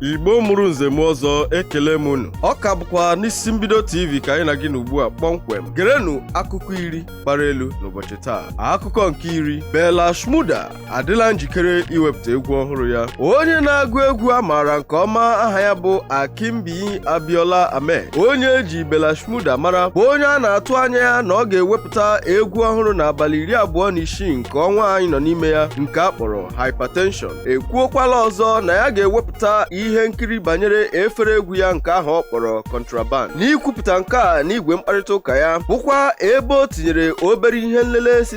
igbo mụrụ nze mụọ ọzọ ekele m unu ọ ka bụkwa n'isi mbido tv ka anyị na gị nọ ugbu a kpọmkwem gerenụ akụkọ iri gbara elu n'ụbọchị taa akụkọ nke iri Bella Shmurda adịla njikere iwepụta egwu ọhụrụ ya onye na-agụ egwu a maara nke ọma aha ya bụ Akinbiyi Abiola Ahmed onye e ji Bella Shmurda mara bụ onye a na-atụ anya ya na ọ ga-ewepụta egwu ọhụrụ n'abalị iri abụọ na isii nke ọnwa anyị nọ n'ime ya nke a kpọrọ Hypertension ekwuokwala ọzọ na ya ga-ewepụta ihe nkiri banyere efere egwu ya nke ahụ ọ kpọrọ Contraband n'ikwupụta nke a n'igwe mkparịta ụka ya bụkwa ebe o tinyere obere ihe nlele si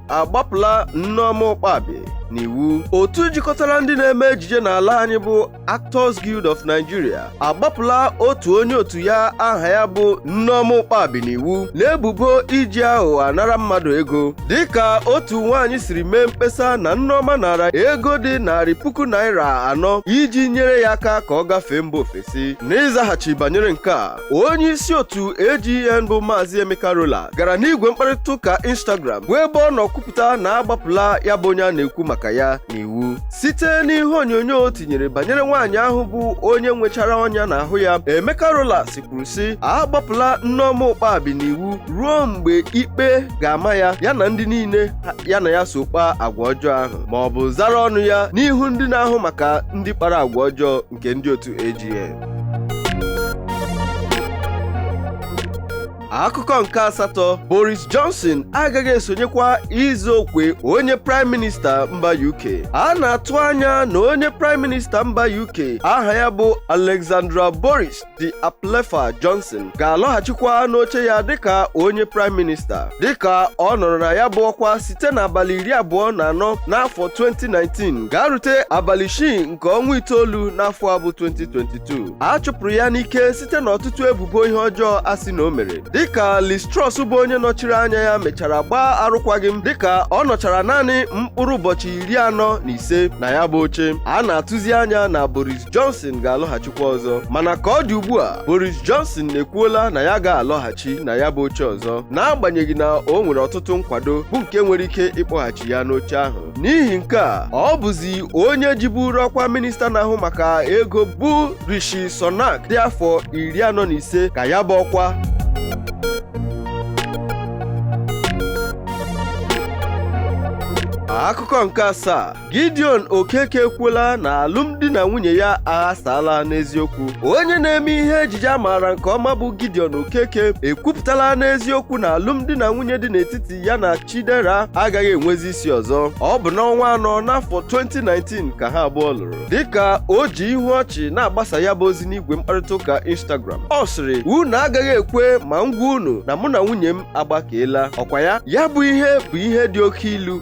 agbapụla Nneoma Ụkpabi n'iwu otu jikọtara ndị na-eme ejije n'ala anyị bụ Actors Guild of Nigeria agbapụla otu onye otu ya aha ya bụ Nneoma Ụkpabi n'iwu n'ebubo iji aghụghọ anara mmadụ ego dịka otu nwaanyị siri mee mkpesa na Nneoma nara ego dị narị puku naira anọ iji nyere ya aka ka ọ gafee mba ofesi n'ịzaghachi banyere nke a onye isi otu AGN bụ Maazị Emeka Rollas gara n'igwe mkparịta ụka Instagram bụ ebe ọ nọ kwupụta na a gbapụla ya bụ onye a na-ekwu maka ya n'iwu site n'ihe onyonyo o tinyere banyere nwaanyị ahụ bụ onye nwechara ọnya n'ahụ ya Emeka Rollas kwuru sị a gbapụla Nneoma Ụkpabi n'iwu ruo mgbe ikpe ga-ama ya ya na ndị niile ya na ya so kpaa agwa ọjọọ ahụ ma ọ bụ zara ọnụ ya n'ihu ndị na-ahụ maka ndị kpara agwa ọjọọ nke ndị otu AGN. akụkọ nke asatọ Boris Johnson agaghị esonyekwa ịzọ ọkwa onye praịm minista mba UK a na-atụ anya na onye praịm minista mba UK aha ya bụ Alexander Boris de Pfeffel Johnson ga-alọghachikwa n'oche ya dịka onye praịm minista dịka ọ nọrọ na ya bụ ọkwa site n'abalị iri abụọ na anọ n'afọ 2019 gaa rute abalị isii nke ọnwa itoolu n'afọ a bụ 2022 a chụpụrụ ya n'ike site n'ọtụtụ ebubo ihe ọjọọ a sị na o mere dịka Liz Truss bụ onye nọchiri anya ya mechara gbaa arụkwaghịm dịka ọ nọchara naanị mkpụrụ ụbọchị iri anọ na ise na ya bụ oche a na-atụzi anya na Boris Johnson ga-alọghachikwa ọzọ mana ka ọ dị ugbu a Boris Johnson ekwuola na ya ga-alọghachi na ya bụ oche ọzọ n'agbanyeghị na o nwere ọtụtụ nkwado bụ nke nwere ike ịkpọghachi ya n'oche ahụ n'ihi nke a ọ bụzi onye jiburu ọkwa minista na-ahụ maka ego bụ Rishi Sunak dị afọ iri anọ na ise ka ya bụ ọkwa akụkọ nke asaa Gideon Okeke ekwuola na alụmdi na nwunye ya aghasaala n'eziokwu onye na-eme ihe ejije a maara nke ọma bụ Gideon Okeke ekwupụtala n'eziokwu na alụmdi na nwunye dị n'etiti ya na Chidera agaghị enwezi isi ọzọ ọ bụ n'ọnwa anọ n'afọ 2019 ka ha abụọ lụrụ dịka o ji ihu ọchị na-agbasa ya bụ ozi n'igwe mkparịta ụka Instagram ọ sịrị unu agaghị ekwe ma m gwa unu na mụ na nwunye m agbakeela ọkwa ya ya bụ ihe bụ ihe dị oke ilu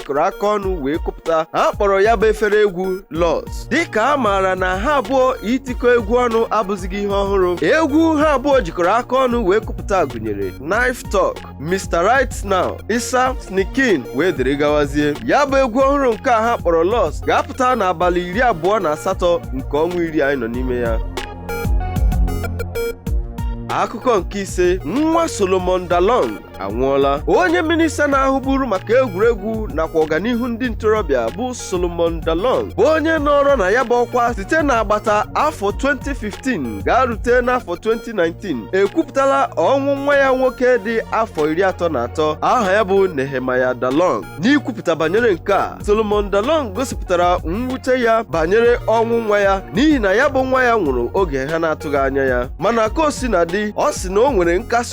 jikọrọ aka ọnụ wee kụpụta ha kpọrọ ya bụ efere egwu Loss dịka a maara na ha abụọ itikọ egwu ọnụ abụzighị ihe ọhụrụ egwu ha abụọ jikọrọ aka ọnụ wee kụpụta gụnyere Knife Talk Mr. Right Now Issa Sneakin wee dịrị gawazie ya bụ egwu ọhụrụ nke a ha kpọrọ Loss ga-apụta n'abalị iri abụọ na asatọ nke ọnwa iri anyị nọ n'ime ya akụkọ nke ise nwa Solomon Dalong anwụọla onye minista na-ahụburu maka egwuregwu nakwa ọganihu ndị ntorobịa bụ Solomon Dalong bụ onye nọrọ na ya bụ ọkwa site n'agbata afọ 2015 gaa rute n'afọ 2019 ekwupụtala ọnwụ nwa ya nwoke dị afọ iri atọ na atọ aha ya bụ Nehemiah Dalong n'ikwupụta banyere nke a Solomon Dalong gosipụtara mwute ya banyere ọnwụ nwa ya n'ihi na ya bụ nwa ya nwụrụ oge ha na-atụghị anya ya mana ka o sina dị ọ sị na o nwere nkasi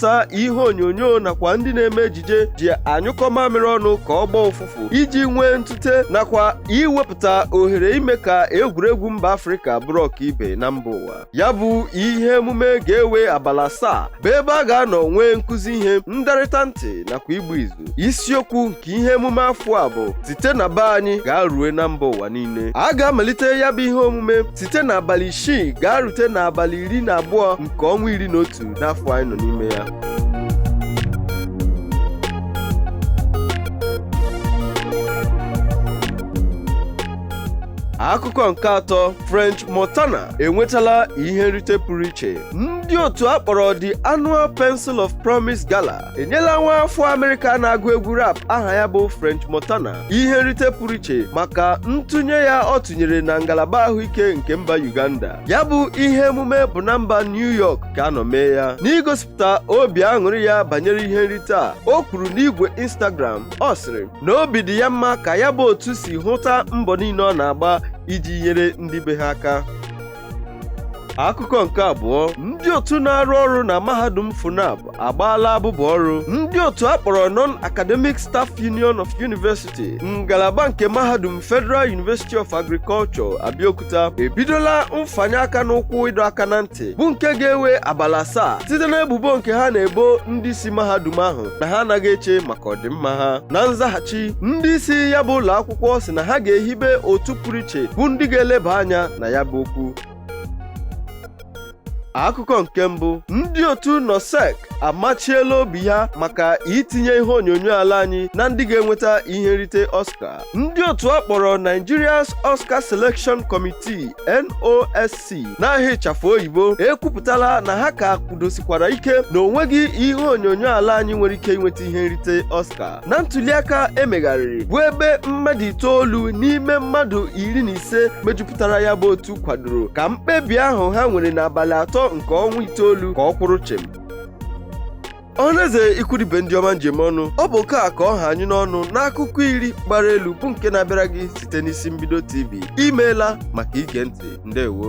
ta ihe onyonyo nakwa ndị na-eme ejije ji anyụkọ mamịrị ọnụ ka ọ gbọọ ụfụfụ iji nwee ntute nakwa iwepụta ohere ime ka egwuregwu mba Afrịka bụrụ ọkaibe na mba ụwa ya bụ ihe emume ga-ewe abalị asaa bụ ebe a ga-anọ nwee nkụzi ihe ndarịta ntị nakwa igbu izu isiokwu nke ihe emume afọ a bụ site na be anyị gaa rue na mba ụwa niile a ga-amalite ya bụ ihe omume site n'abalị isii gaa rute n'abalị iri na abụọ nke ọnwa iri na otu n'afọ anyị nọ n'ime ya akụkọ nke atọ French Montana enwetala ihe nrite pụrụ iche ndị otu a kpọrọ The Annual Pencil of Promise Gala enyela nwa afọ Amerịka na-agụ egwu rap aha ya bụ French Montana ihe nrite pụrụ iche maka ntụnye ya ọ tụnyere na ngalaba ahụike nke mba Uganda ya bụ ihe emume bụ na mba New York ka a nọ mee ya n'igosipụta obi aṅụrị ya banyere ihe nrite a o kwuru n'igwe Instagram ọ sịrị na obi dị ya mma ka ya bụ otu si hụta mbọ niile ọ na-agba iji nyere ndị be ha aka akụkọ nke abụọ ndị otu na-arụ ọrụ na mahadum FUNAAB agbaala abụbụ ọrụ ndị otu a kpọrọ non-academic staff union of university ngalaba nke mahadum federal university of agriculture abeokuta ebidola mfanye aka n'ụkwụ ịdọ aka na ntị bụ nke ga-ewe abalị asaa site n'ebubo nke ha na-ebo ndị isi mahadum ahụ na ha anaghị eche maka ọdịmma ha na nzaghachi ndị isi ya bụ ụlọ akwụkwọ sị na ha ga-ehibe otu pụrụ iche bụ ndị ga-eleba anya na ya bụ okwu akụkọ nke mbụ ndị otu nosc amachiela obi ha maka itinye ihe onyonyo ala anyị na ndị ga-enweta ihe nrite oscar ndị otu a kpọrọ nigeria's oscar selection committee nosc n'aha ịchafụ oyibo ekwupụtala na ha ka kwudosikwara ike na o nweghị ihe onyonyo ala anyị nwere ike inweta ihe nrite oscar na ntuliaka e megharịrị bụ ebe mmadụ itoolu n'ime mmadụ iri na ise mejupụtara ya bụ otu kwadoro ka mkpebi ahụ ha nwere n'abalị atọ nke ọnwa itoolu ka ọ kwụrụ chịm ọhaneze ikwu na ibe ndị ọma m ji eme ọnụ ọ bụ nke a ka ọ ha anyị n'ọnụ n'akụkọ iri gbara elu bụ nke na-abịara gị site n'isi mbido tv i meela maka ige ntị ndewo